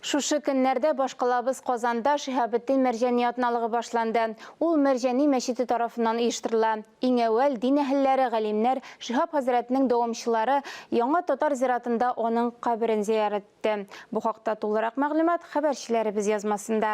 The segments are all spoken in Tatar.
Шушы көннәрдә башкалабыз Казанда Шиһабетдин Мәрҗани атналыгы башланды. Ул Мәрҗани мәчете тарафыннан оештырыла. Иң әүвәл дин әһелләре, галимнәр, Шиһаб хәзрәтнең дәвамчылары Яңа татар зиратында аның каберен зыярәт итте. Бу хакта тулырак мәгълүмат хәбәрчеләребез язмасында.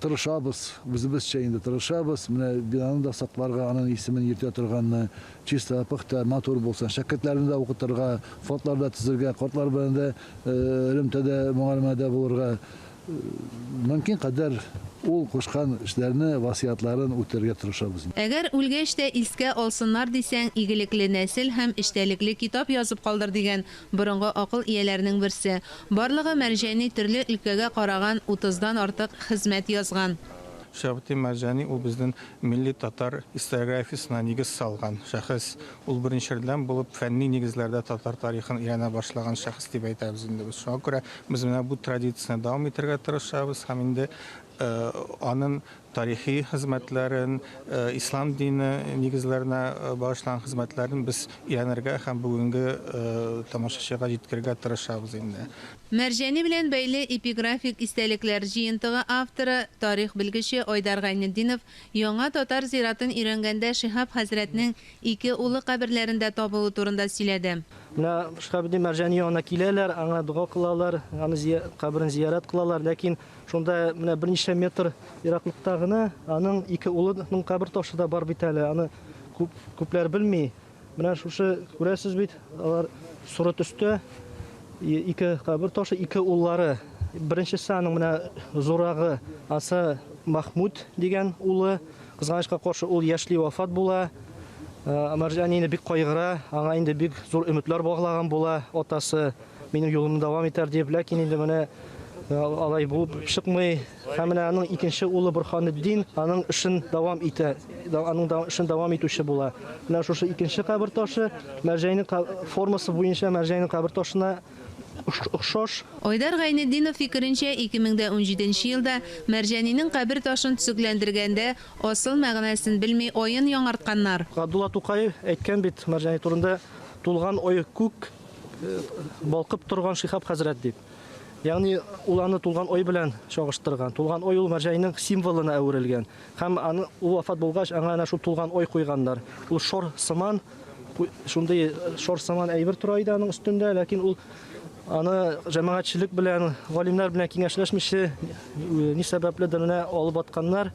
Тырышабыз, үзебезчә инде тырышабыз. Менә бинаны да сакларга, аның исемен йөртә торганны, чиста, пөхтә, матур булсын. Шәкертләрне дә укытырга, фондлар да төзергә, картлар белән дә элемтәдә, мөгаләмәдә булырга, мөмкин кадәр ул кушкан эшләрне, васыятларын үтәргә тырышабыз. Әгәр үлгәч тә искә алсыннар дисәң, игелекле нәсел һәм эчтәлекле китап язып калдыр дигән Борынгы акыл ияләренең берсе. Барлыгы Мәрҗани төрле өлкәгә караган утыздан артык хезмәт язган. Шәйхетдин Мәрҗани ул безнен милли татар историографиясенә нигез салган шәхес. Ул беренчердән булып фәнни нигезләрдә татар тарихын өйрәнә башлаган шәхес дип әйтәбез инде без. Шуңа күрә без менә бу традицияне дәвам итәргә тырышабыз һәм инде анын. тарихи хезмәтләрен, ислам дине нигезләренә багышланган хезмәтләрен без өйрәнергә һәм бүгенге тамашачыга җиткерергә тырышабыз инде. Мәрҗани белән бәйле эпиграфик истәлекләр җыентыгы авторы, тарих белгече Айдар Гайнетдинов Яңа татар зиратын өйрәнгәндә Шиһап хәзрәтнең ике улы каберләрендә табылуы турында сөйләде. Менә Шиһабетдин Мәрҗани янына киләләр, аңа дога кылалар, аны каберен зиярәт кылалар, ләкин Шунда менә берничә метр ераклыкта гына аның ике улының кабер ташы да бар бит әле. Аны күп күпләр белми. Менә шушы күрәсез бит, алар соры төстә ике кабер ташы, ике уллары. Беренчесе аның менә зурагы Аса Махмуд дигән улы. Кызганычка каршы ул яшьли вафат була. Э, Марҗани инде бик кайгыра, аңа инде бик зур өметләр баглаган була атасы. Минем юлымны дәвам итәр дип, ләкин инде менә э, алай булып чыкмый. Һәм менә аның икенче улы Бурханетдин аның эшен дәвам итә, аның да эшен дәвам итүче була. Менә шушы икенче кабер ташы Мәрҗәйнең формасы буенча Мәрҗәйнең кабер ташына охшаш. Айдар Гайнетдинов фикеренчә, 2017 елда Мәрҗәнинең кабер ташын төзекләндергәндә асыл мәгънәсен белми аен яңартканнар. Габдулла Тукай әйткән бит Мәрҗәни турында, тулган ое күк, Балкып торган Шиһаб хәзрәт дип. Ягъни ул аны тулган ай белән чагыштырган. Тулган ай ул мәрҗәйнең символына әверелгән. Һәм аны ул вафат булгач, аңа әнә шул тулган ай куйганнар. Ул шор сыман, шундый шор сыман әйбер тора иде аның өстендә, ләкин ул аны җәмәгатьчелек белән, галимнәр белән киңәшләшмичә, ни сәбәпледер менә алып атканнар.